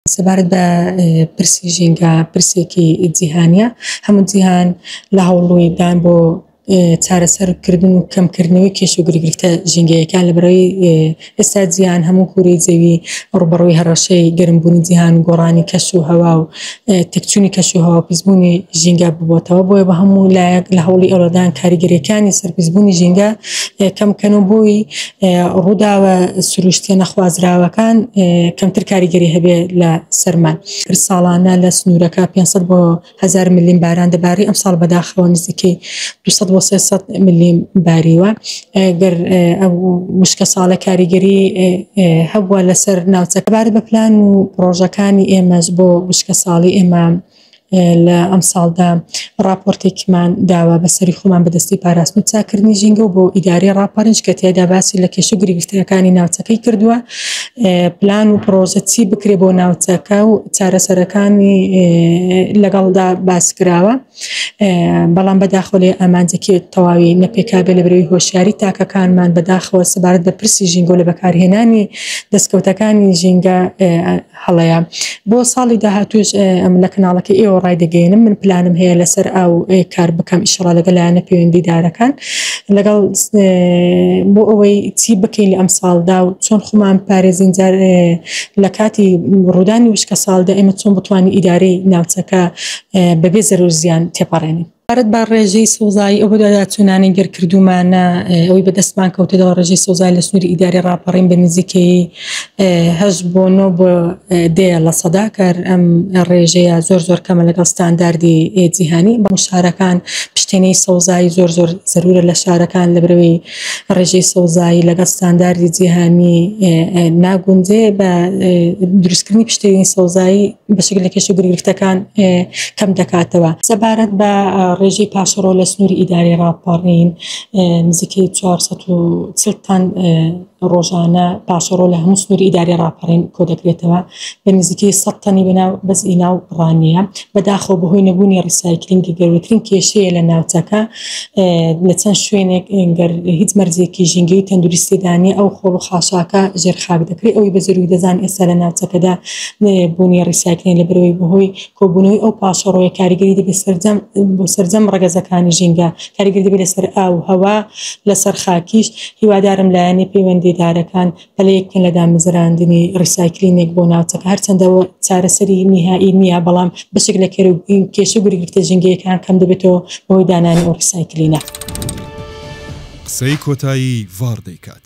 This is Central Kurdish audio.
سەبارەت بە پرسی ژینگە پرسێکی جیهانیە هەموو جیهان لە هەوڵووی دان بۆ چارەسەرکردن و کەمکردنەوەی کێش و گرگرفتە ژینگەیەکان لە بەرەوەی ئێستا جیهان هەموو کووری جەوی ڕوبەڕووی هەڕەشەی گەرمبوونی جیهان و گۆڕانی کەش و هەوا و تەکچوونی کەش و هەوا پیسبوونی ژینگە ببتەوە بۆیە بە هەموو لایەک لە هەوڵی ئەوەدان کاریگەریەکانی سەرپیسبوونی ژینگە کەمکەن و بووی ڕووداوە سروشتیە نەخوازراوەکان کەمتر کاریگەری هەبێ لە سەرمان هەر ساڵانە لە سنوورەکە 500 بۆ هزار ملیم باران دەباری ئەم ساڵ بەداخەوە نزیکەی 200 بۆ 300 ملیم باریوە گەر وشکە ساڵە کاریگەری هەبووە لەسەر ناوچەکەبارە بە پلان و ڕۆژەکانی ئێمەش بۆ وشکە ساڵی ئێمە لە ئەمساڵدا ڕاپۆرتێکمان داوا بە سەری خۆمان بەدەستی پاراستن و چاکردنی ژینگە و بۆ ئیداری ڕاپەرنج کە تێدا باسی لە کێشە گرفتەکانی ناوچەکەی کردووە پلان و پرۆژە چی بکرێ بۆ ناوچەکە و چارەسەرەکانی لەگەڵدا باس کراوە بەڵام بەداخۆ لێ ئامانجەکی تەواوی نەپێکابێ لە برەوی هۆشیاری تاکەکانمان بەداخەوە سەبارەت بە پرسی ژینگە لە بەکارهێنانی دەستکەوتەکانی ژینگە هەڵەیە بۆ ساڵی داهاتوش ئەم لە کەناڵەکە ئێوە ڕای دەگەێنم من پلانم هەیە لەسەر ئاو کار بکەم ئیشڕا لەگە لایەنە پەیوەندیدارەکان لەگەڵ بۆ ئەوەی چی بکەین لە ئەم ساڵدا و چۆن خۆمان پارێزین جار لە کاتی ڕوودانی وشکە ساڵدا ئێمە چۆن بتوانین ئیدارەی ناوچەکە بەبێ زەرزیان تێپەڕێنین سەبارەت بە ڕێژەی سەوزایی ئەو بەدواداچوونانەی دەرکردوومانە ئەوی بەدەستمان کەوتەوە ڕێژەی سەوزای لە سنووری ئیداری ڕاپەڕین بە نزیکەی هەشت بۆ نۆ بۆ دێ لە سەدا کار ئەم ڕێژەیە زۆر زۆر کەمە لەگەڵ ستانداردی جیهانی بە شارەکان پشتێنەی سەوزایی زۆر زۆر زەرورە لە شارەکان لە برەوەی ڕێژەی سەوزایی لەگەڵ ستانداردی جیهانی ناگونجێ بە دروستکردنی پشتێنی سەوزایی بەشێک لە کێشە گرفتەکان کەم دەکاتەوە سەبارەت بە ڕێژەی پاشەڕۆ لە سنووری ئیداری ڕاپەڕین نزیکەی 440 تان ڕۆژانە پاشەڕۆ لە هەموو سنووری ئیداری ڕاپەڕین کۆ دەکرێتەوە بە نزیکەی سەد تەنی بە ناو بەس ی ناو ڕانیە بەداخەوە بەهۆی نەبوونی ڕیسایکلینگی گەورەترین کێشەیە لە ناوچەکە لە چەند شوێنێک گەر هیچ مەرجێکی ژینگەی و تەندروستی دانیە ئەو خۆڵ و خاشاکە ژێر خاک دەکرێت ئەوی بە زەروی دەزان ئێستا لە ناوچەکەدا بوونی ڕیسایکلین لە برەوەی بەهۆی کۆبوونەوەی ئەو پاشەڕۆیە کاریگەری دەبێت سەرجەم بۆ سەرجەم ڕەگەزەکانی ژینگە کاریگەری دەبێت لەسەر ئاو هەوا لەسەر خاکیش هیوادارم لایەنی پەیوەندیدارەکان پلەیەک بکەن لە دامەزراندنی ڕیسایکلینێک بۆ ناوچەکە، هەرچەندە ئەوە چارەسەری نیهایی نییە، بەڵام بەشێک لە کێر و کێشە و گرگرتە ژینگەیەکان کەم دەبێتەوە بەهۆی دانانی ئەو ڕیسایکلینە. قسەی کۆتایی ڤاڕ دەیکات.